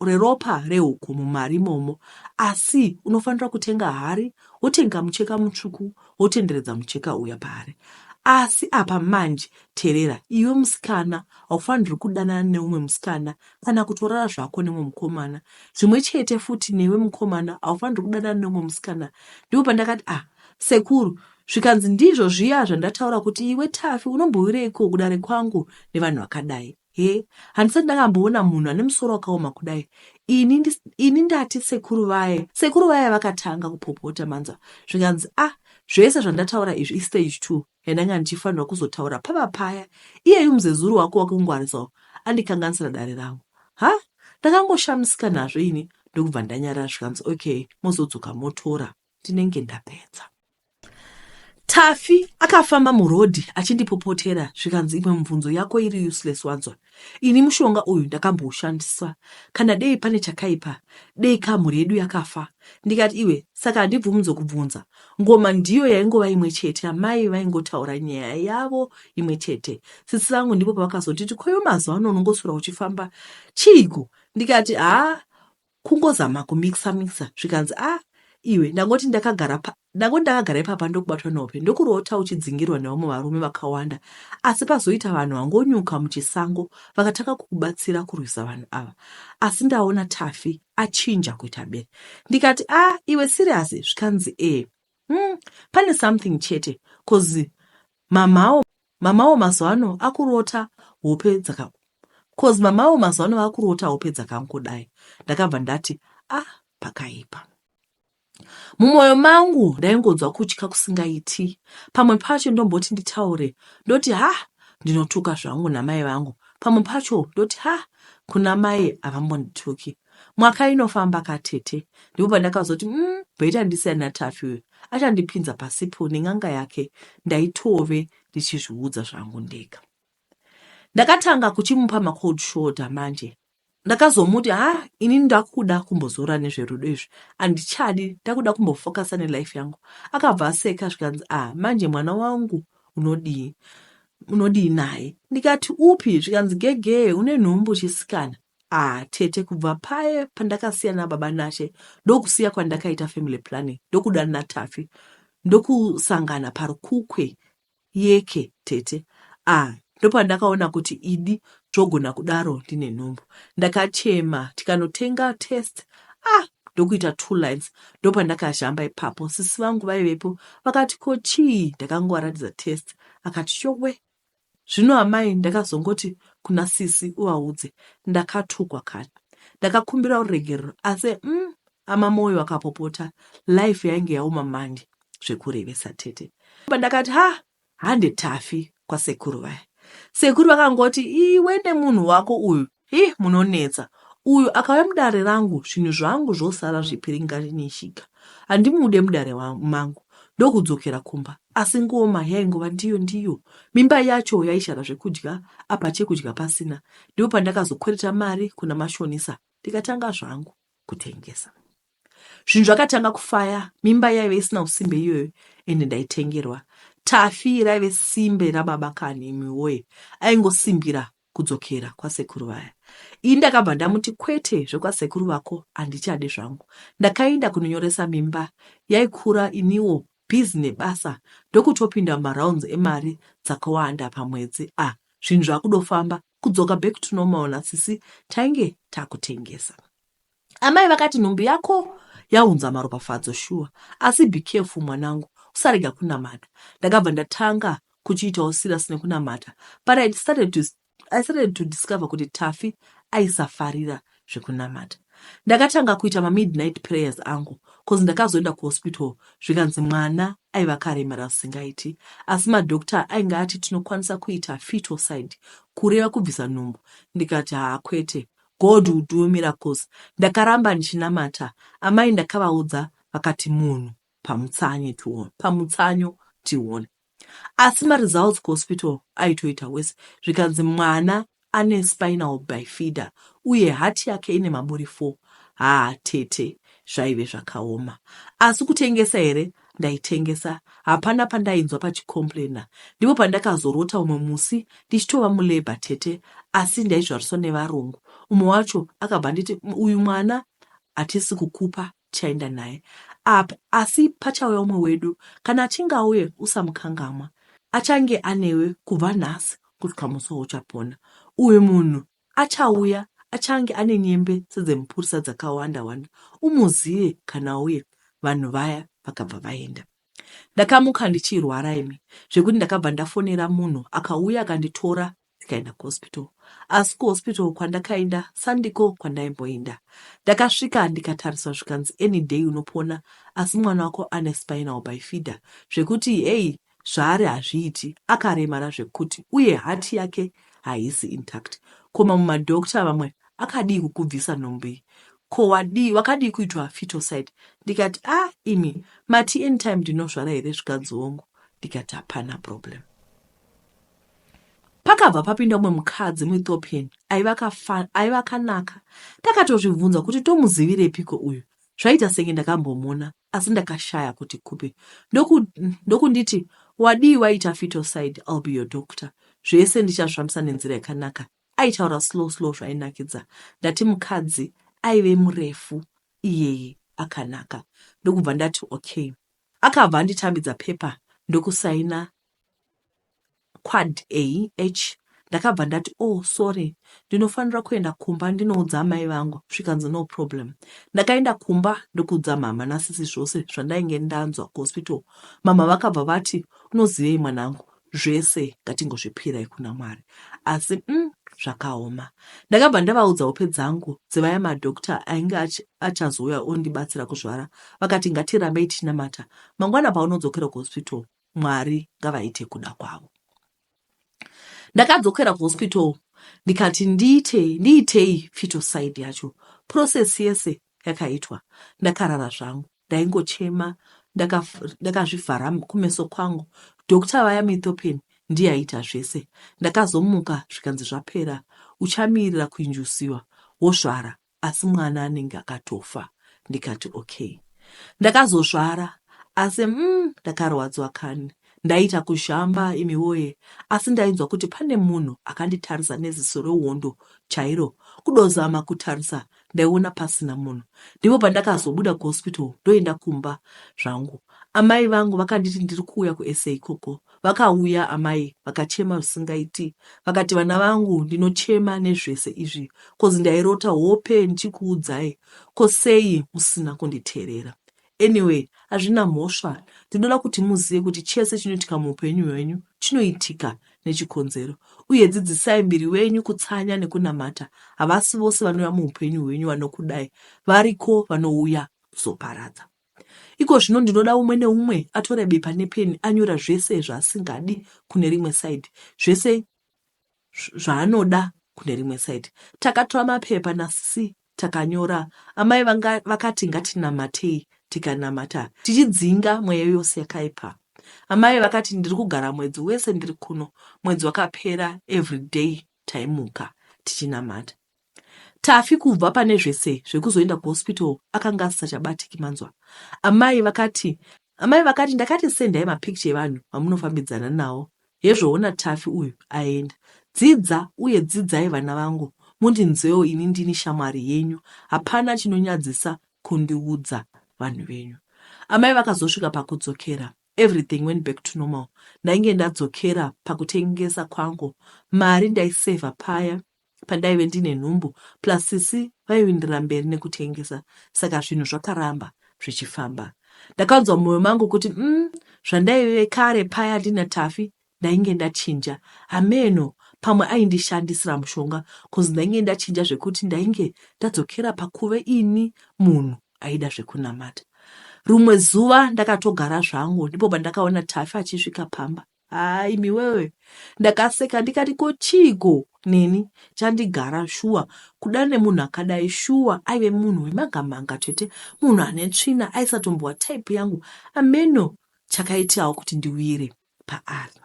reropa rehuku mumari imomo asi unofanira kutenga hari wotenga mucheka mutsvuku wotenderedza mucheka uya paari asi apa manje Terera, iwe musikana haufanirwi kudanana neumwe musikana kana kutorara zvako nemumwe mukomana. Zvimwe chete futi newe mukomana haufanirwi kudanana neumwe musikana. Ndipo pandakati ah sekuru zvikanzi ndizvo zviya zvandataura kuti iwe Taffy unombowireiko kudare kwangu nevanhu vakadai. He, handisati ndakamboona munhu ane musoro wakaoma kudai ini, ndi, ini ndati sekuru vaye. Sekuru vaye vakatanga kupopota manzwa zvikanzi ah zvese zvandataura izvi istage two. and ndanga ndichifanirwa kuzotaura pava paya iyeyu muzezuru wako wakungwarisawo andikanganisira dare rangu ha ndakangoshamisika nazvo ini ndokubva ndanyarara zvikanzi okay mozodzoka motora ndinenge ndapedza tafi akafamba murodhi achindipopotera zvikanzi imwe mubvunzo yako iri useless wanzwa Ini mushonga uyu ndakamboushandisa kana dei pane chakaipa dei ka mhuri yedu yakafa ndikati iwe saka handibvumudze kubvunza ngoma ndiyo yaingova imwe chete amai vaingotaura nyaya yavo imwe chete sisi vangu ndipo pavakazonditi koyo mazuva ano unongosura uchifamba chiiko ndikati haa Kungozama kumixer mixer zvikanzi ah iwe ndangoti ndakagara pa ndangoti ndakagara ipapa ndokubatwa nehope ndokurota uchidzingirwa nevamwe varume vakawanda asi pazoita vanhu vangonyuka muchisango vakatanga kukubatsira kurwisa vanhu ava asi ndaona tafi achinja kuita bere ndikati a ah, iwe siriyasi zvikanzi e eh, mm, pane something chete cause Mamawo mamawo mazwano akurota hope dzaka cause mamawo mazwano vakurota hope dzakangodai ndakabva ndati ah pakaipa mumwoyo mangu ndaingonzwa kutya kusingaiti pamwe pacho ndomboti nditaure ndoti ha ndinotuka zvangu namai vangu pamwe pacho ndoti ha kuna mai havambondituki Mwaka inofamba ka tete. Ndipo pandakazoti mm, better ndisiya naTaffy uyu. Achandipinza pasipo nen'anga yake ndaitove ndichizviudza zvangu ndega. Ndakatanga kuchimupa ma cold shoulder manje. Ndakazomuti ha ah, ini ndakuda kumbozora nezverudo izvi andichadi ndakuda kumbofokasa nelife yangu. Akabva aseka zvikanzi ah manje mwana wangu unodii unodii naye ndikati upi zvikanzi gegee une nhumbu chisikana Ah tete kubva paye pandakasiya nababa Nashe ndokusiya kwandakaita family planning ndokuda naTaffy ndokusangana parukukwe yeke tete ah ndopandakaona kuti idi zvogona kudaro ndine nhumbu ndakachema tikanotenga test ah ndokuita two lines ndopandakazhamba ipapo sisi vangu vaivepo vakati ko chii ndakangovaratidza test akati yowe Zvino amai ndakazongoti kuna sisi uvaudze ndakatukwa kani ndakakumbira ruregerero asi mm, ama moyo akapopota life yainge yaoma mandi zvekurevesa tete pandakati ha hande tafi kwasekuru vaya sekuru vakangoti iwe nemunhu wako uyu Hii munonetsa uyu akauya mudare rangu zvinhu zvangu zvosara zvipiringarini chiga handimude mudare mangu ndokudzokera kumba asi ngoma yaingova ndiyo ndiyo mimba yacho yaishara zvekudya apa chekudya pasina ndipo pandakazokwereta mari kuna mashonisa ndikatanga zvangu kutengesa zvinhu zvakatanga kufaya mimba yaive isina usimbe iyoyo ende ndaitengerwa tafi raive simbe rababa kani imiwoye aingosimbira kudzokera kwasekuru vaya. Ini ndakabva ndamuti kwete zvekwasekuru vako handichade zvangu. Ndakaenda kunonyoresa mimba yaikura iniwo busy nebasa ndokutopinda mumarounds emari dzakawanda pamwedzi ah zvinhu zvakudofamba kudzoka back to normal nasisi tainge takutengesa. Amai vakati nhumbu yako yaunza maropafadzo shuwa asi be careful mwanangu usarega kunamata. Ndakabva ndatanga kuchiitawo serious nekunamata but I started to, I started to discover kuti Taffy aisafarira zvekunamata. Ndakatanga kuita mamidnight prayers angu cause ndakazoenda kuhospital zvikanzi mwana aiva karemera zvisingaiti asi madoctor ainge ati tinokwanisa kuita fetal side kureva kubvisa nhumbu ndikati haa kwete God will do your miracles ndakaramba ndichinamata amai ndakavaudza vakati munhu pamutsanyo tione pamutsanyo tione asi maresults kuhospital aitoita wese zvikanzi mwana ane spinal bifida uye hati yake ine maburi 4 haa tete zvaive zvakaoma asi kutengesa here ndaitengesa hapana pandainzwa pachicomplainer ndipo pandakazorota umwe musi ndichitova mulabour tete asi ndaizvariswa nevarungu umwe wacho akabva nditi uyu mwana hatisi kukupa chaenda naye up asi pachauya umwe wedu kana achinge auye usamukangamwa achange anewe kubva nhasi kusvika musi wauchapona uyu munhu Achauya achange ane nyembe sedzemupurisa dzakawanda wanda umuzive kana auya vanhu vaya vakabva vaenda ndakamuka ndichirwara imi zvekuti ndakabva ndafonera munhu akauya akanditora tikaenda kuhospital asi kuhospital kwandakaenda sandiko kwandaimboinda ndakasvika ndikatariswa zvikanzi any day unopona asi mwana wako ane spinal by feeder zvekuti hey zvaari hazviiti akaremara zvekuti uye heart yake haisi intact ko mamwe madoctor vamwe akadii kukubvisa nhumbu iyi ko wadii wakadii kuitwa fitoside ndikati a ah, imi mati anytime ndinozvara here zvikanzi hongu ndikati hapana problem pakabva papinda umwe mukadzi muethiopian aiva akanaka takatozvibvunza kuti tomuzivirepiko uyu Zvaita senge ndakambomona asi ndakashaya kuti kupi ndoku, ndokunditi wadii waita fitoside I'll be your doctor zvese ndichazvifambisa nenzira yakanaka aitaura slow slow zvainakidza ndati mukadzi aive murefu iyeye akanaka ndokubva ndati okay akabva anditambidza pepa ndokusaina Quad A H Ndakabva ndati oh sorry ndinofanira kuenda kumba ndinoudza amai vangu zvikanzi no problem ndakaenda kumba ndokuudza mhamha nasisi zvose zvandainge ndanzwa kuhospital mhamha vakabva vati unozivei mwanangu zvese ngatingozvipirai kuna mwari asi mm, zvakaoma ndakabva ndavaudza hope dzangu dzevaya madokta ainge achazouya ondibatsira kuzvara vakati ngatirambei tichinamata mangwana paunodzokera kuhospital Mwari ngavaite kuda kwavo. Ndakadzokera kuhospital ndikati ndiite ndiitei fetal side yacho process yese yakaitwa ndakarara zvangu ndaingochema ndakazvivhara ndaka kumeso kwangu doctor vaya mithopin ndiye aita zvese ndakazomuka zvikanzi zvapera uchamirira kuinjusiwa wozvara asi mwana anenge akatofa ndikati okay ndakazozvara asi mm, ndakarwadzwa kani ndaiita kuzhamba imi woye asi ndainzwa kuti pane munhu akanditarisa neziso rehondo chairo kudozama kutarisa ndaiona pasina munhu ndipo pandakazobuda kuhospital ndoenda kumba zvangu amai vangu vakanditi ndiri kuuya kusa ikoko Vakauya amai vakachema zvisingaiti vakati vana vangu ndinochema nezvese izvi kozi ndairota hope ndichikuudzai ko sei musina kunditeerera anyway hazvina mhosva ndinoda kuti muzive kuti chese chinoitika muupenyu hwenyu chinoitika nechikonzero uye dzidzisai mbiri wenyu kutsanya nekunamata havasi vose vanouya muupenyu hwenyu vanokudai variko vanouya kuzoparadza Iko zvino ndinoda umwe neumwe atore bepa nepeni anyora zvese zvaasingadi kune rimwe side, zvese zvaanoda kune rimwe side. Takatora mapepa nasisi takanyora. Amai vanga vakati ngatinamatei, tikanamata tichidzinga mweya yose yakaipa. Amai vakati ndiri kugara mwedzi wese ndiri kuno. Mwedzi wakapera everyday taimuka tichinamata. Taffy kubva pane zvese zvekuzoenda kuhospital akanga asisachabatiki manzwa. Amai vakati Amai vakati ndakati sendai mapicture evanhu vamunofambidzana nawo. Hezvo ona Taffy uyu aenda. Dzidza uye dzidzai vana vangu mundinzwewo ini ndini shamwari yenyu hapana chinonyadzisa kundiudza vanhu venyu. Amai vakazosvika pakudzokera everything went back to normal ndainge ndadzokera pakutengesa kwangu mari ndaisaver paya pandaive ndine nhumbu plus sisi vaiwindira mberi nekutengesa saka zvinhu zvakaramba zvichifamba ndakanzwa mumwoyo mangu kuti mm, zvandaive kare paya ndina tafi ndainge ndachinja hameno pamwe aindishandisira mushonga bcause ndainge ndachinja zvekuti ndainge ndadzokera pakuve ini munhu aida zvekunamata rumwe zuva ndakatogara zvangu ndipo pandakaona tafi achisvika pamba Haa imi wewe ndakaseka ndikati ko chiiko neni chandigara shuwa kuda nemunhu akadai shuwa aive munhu wemanga manga tete munhu ane tsvina aisatombowa type yangu ameno chakaitawo kuti ndiwire paari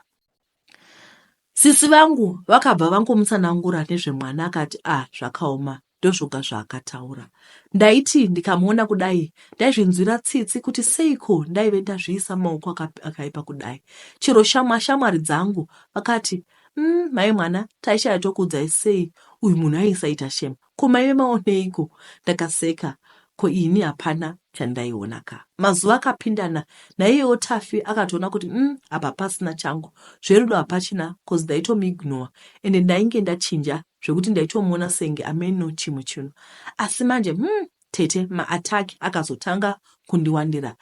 sisi vangu vakabva vangomutsanangura nezvemwana akati ah zvakaoma ndozvoga zvaakataura. Ndaiti ndikamuona kudai ndaizvinzwira tsitsi kuti seiko ndaive ndazviisa maoko akaipa kudai. Chero shamwa shamwari dzangu vakati mm, mai mwana taishaya tokuudzai sei uyu munhu aisaita shema ko maive maoneiko? Ndakaseka ko ini hapana chandaiona ka. Mazuva akapindana naiyewo Tafi akatoona kuti mm, apa pasina changu zverudo hapachina cause ndaitomuignore ende ndainge ndachinja zvekuti ndaitomuona senge ameno chimwe chinhu asi manje hmm, tete maattack akazotanga kundiwandira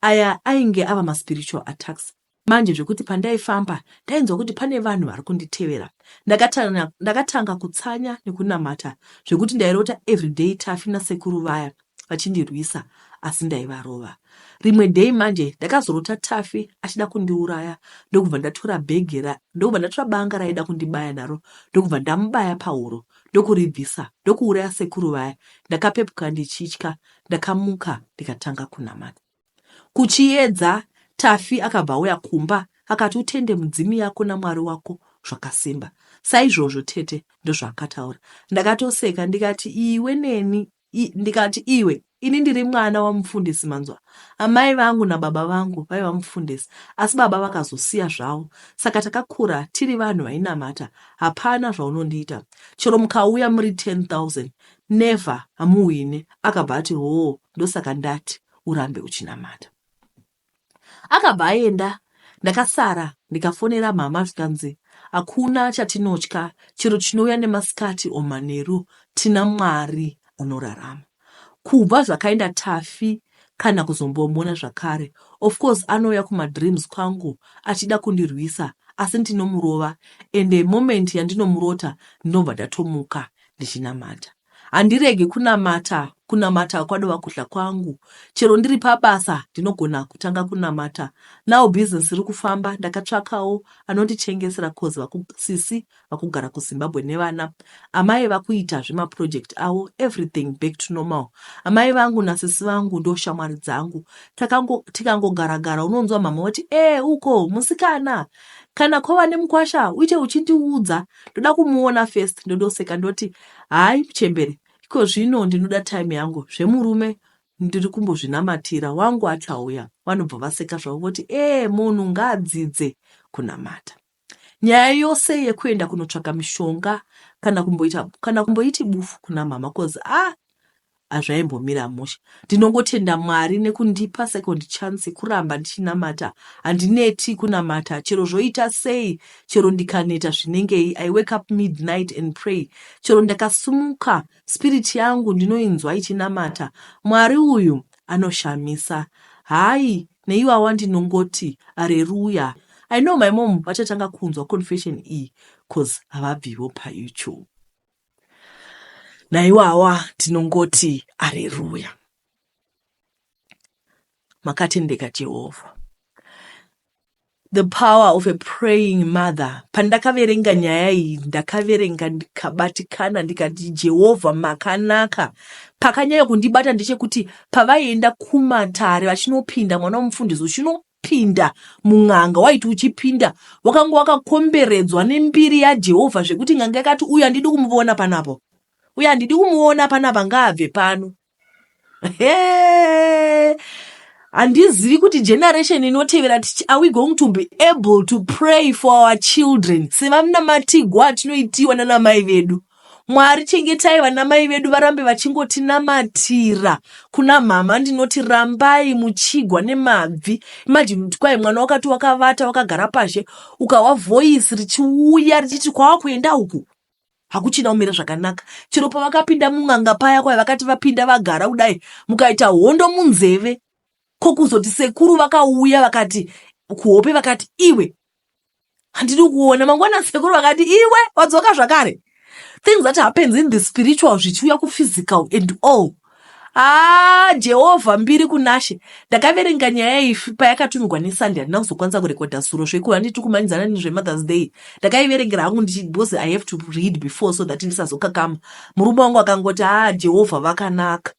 aya ainge ava maspiritual attacks manje zvekuti pandaifamba ndainzwa kuti pane vanhu vari kunditevera ndakatanga, ndakatanga kutsanya nekunamata zvekuti ndairota everyday tafi nasekuru vaya vachindirwisa asi ndaivarova. Rimwe day manje ndakazorota Taffy achida kundiuraya ndokubva ndatora bhegi ra ndokubva ndatora banga raida kundibaya naro ndokubva ndamubaya pahuro ndokuribvisa ndokuuraya sekuru vaya. Ndakapepuka ndichitya ndakamuka ndikatanga kunamata. Kuchiedza Taffy akabva auya kumba akati utende mudzimu yako namwari wako zvakasimba saizvozvo tete ndozvaakataura ndakatoseka ndikati iwe neni I, ndikati iwe ini ndiri mwana wamufundisi manzwa amai vangu nababa vangu vaiva mufundisi asi baba vakazosiya zvavo saka takakura tiri vanhu vainamata hapana zvaunondiita chero mukauya muri 10000 never hamuhwine akabva ati hoo ndosaka ndati urambe uchinamata akabva aenda ndakasara ndikafonera mhama zvikanzi hakuna chatinotya chero chinouya nemasikati omanheru tina mwari anorarama kubva zvakaenda tafi kana kuzombomona zvakare of course anouya kumadreams kwangu achida kundirwisa asi ndinomurova ende moment yandinomurota ndinobva ndatomuka ndichinamata Handiregi kunamata, kunamata kwadova kudya kwangu. Chero ndiri pabasa ndinogona kutanga kunamata. Now business iri kufamba ndakatsvakawo anondichengesera cause vaku sisi vakugara kuZimbabwe nevana. Amai vakuita zvema project avo everything back to normal. Amai vangu nasisi vangu ndo shamwari dzangu. Takango tikangogara gara unonzwa mhamha vati eh uko musikana kana kwava nemukwasha uite uchindiudza ndoda kumuona first ndodoseka ndoti Hayi muchembere ikozvino ndinoda time yangu zvemurume ndiri kumbozvinamatira wangu achauya. Vanobva vaseka zvavo voti ee munhu ngaadzidze kunamata. Nyaya yose yekuenda kunotsvaka mishonga kana kumboita kana kumboiti bufu kunamama coz ah hazvaimbomira mushe ndinongotenda Mwari nekundipa second chance kuramba ndichinamata handineti kunamata chero zvoita sei chero ndikaneta zvinengei I wake up midnight and pray chero ndakasumuka spirit yangu ndinoinzwa ichinamata Mwari uyu anoshamisa hayi neiwawa ndinongoti areruya I know my mom vachatanga kunzwa confession iyi cause havabvivo paYouTube. naiwawa tinongoti areruya makatendeka jehovha the power of a praying mother pandakaverenga nyaya iyi ndakaverenga ndikabatikana ndikati jehovha makanaka pakanyanya kundibata ndechekuti pavaienda kumatare vachinopinda mwana womufundisi uchino Pinda mun'anga waiti uchipinda wakanga wakakomberedzwa nembiri yaJehovha zvekuti n'anga yakati uyu handidi kumuona panapo, uyu handidi kumuona panapa, ngaabve pano. Hee! handizivi kuti generation inotevera are we going to be able to pray for our children sevamnamatigwa atinoitiwa nanamai vedu Mwari chengetai vana mai vedu varambe vachingotinamatira kuna mhamha ndinoti rambai muchigwa nemabvi imagine kuti kwai mwana wakati wakavata wakagara pashe ukahwa voice richiuya richiti kwava kuenda uku hakuchina umire zvakanaka chero pavakapinda mun'anga paya kwai vakati vapinda vagara kudai mukaita hondo munzeve ko kuzoti sekuru vakauya vakati kuhope vakati iwe handidi kuona mangwana sekuru vakati iwe wadzoka zvakare things that happens in the spiritual zvichiuya kuphysical and all haa ah, jehovha mbiri kunashe ndakaverenga nyaya ifi payakatumigwa nesunday handina kuzokwanisa kurekodha suro zvoikuva nditi kumanyidzana nezvemother's day ndakaiverengera hangu ndichi because i have to read before so that ndisazokakama murume wangu akangoti haa ah, jehovha vakanaka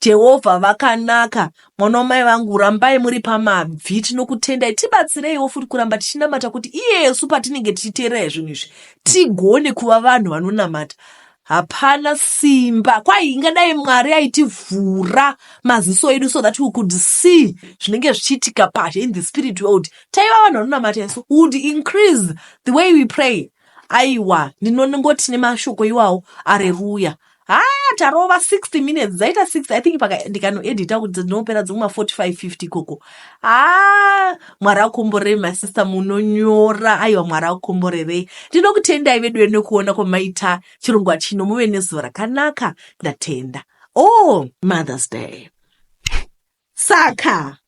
Jehovha vakanaka, mwana wamai vangu, rambai muri pamabvi. Tinokutendai, tibatsireiwo futi kuramba tichinamata kuti iyesu patinenge tichiteerera zvinhu izvi tigone kuva vanhu vanonamata. Hapana simba kwai ingadai Mwari aitivhura maziso edu so that we could see zvinenge zvichiitika pazhe in the spirit world. Taiva vanhu vanonamata isu would increase the way we pray. Aiwa, ndinongoti nemashoko iwawo areruya. haa tarova 60 minutes dzaita 6 i think ndikanoedita kuti ndinopera dzimwe ma 45 50 ikoko haa mwari akomborei masista munonyora aiwa mwari akomborerei ndinokutendai vedu ene kuona kwamaita chirongwa chino muve nezuva rakanaka ndatenda o oh, mothers day saka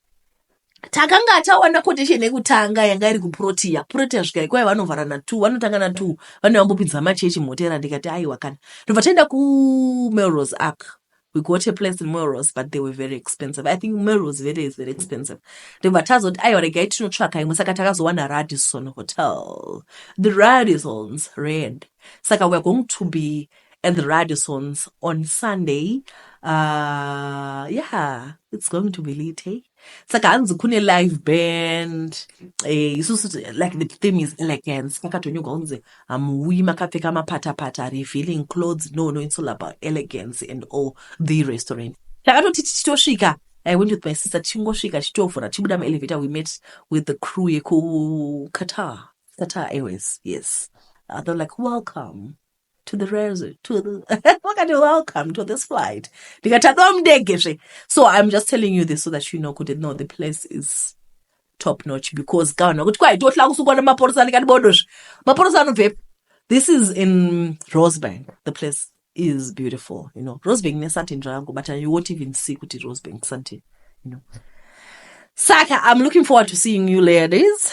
takanga taona condition yekutanga yanga iri kuprotea protea svika ikwai vanovhara na two vanotanga na two vane vambopinza machechi mhotera ndikati aiwa kana ndobva taenda kumelrose ark we got a place in melrose but they were very expensive i think melrose very is very expensive ndobva tazoti aiwa regai tinotsvaka imwe saka takazowana radison hotel the radisons rand saka weare going to be and the Radissons on Sunday. Uh, yeah, it's going to be lit, hey? saka hanzi kune live band eh, isusu eh, like the theme is elegance kakatonyuka kunzi hamuuyi makapfeka mapatapata revealing clothes no no it's all about elegance and all the restaurant takatoti tichitosvika I went with my sister tichingosvika tichitovhura tichibuda muelevator we met with the crew yekuqatar qatar airways yes uh, they're like welcome to the res to the wakati welcome to this flight ndikati adova mundege zve so i'm just telling you this so that you know kuti no the place is top notch because ka vanhu vakuti kwai tohla kusukwa nemaporosa andikati bodo zve maporosa anobvepi this is in rosebank the place is beautiful you know rosebank nesantin zvayangu but you won't even see kuti rosebank santin you know saka i'm looking forward to seeing you ladies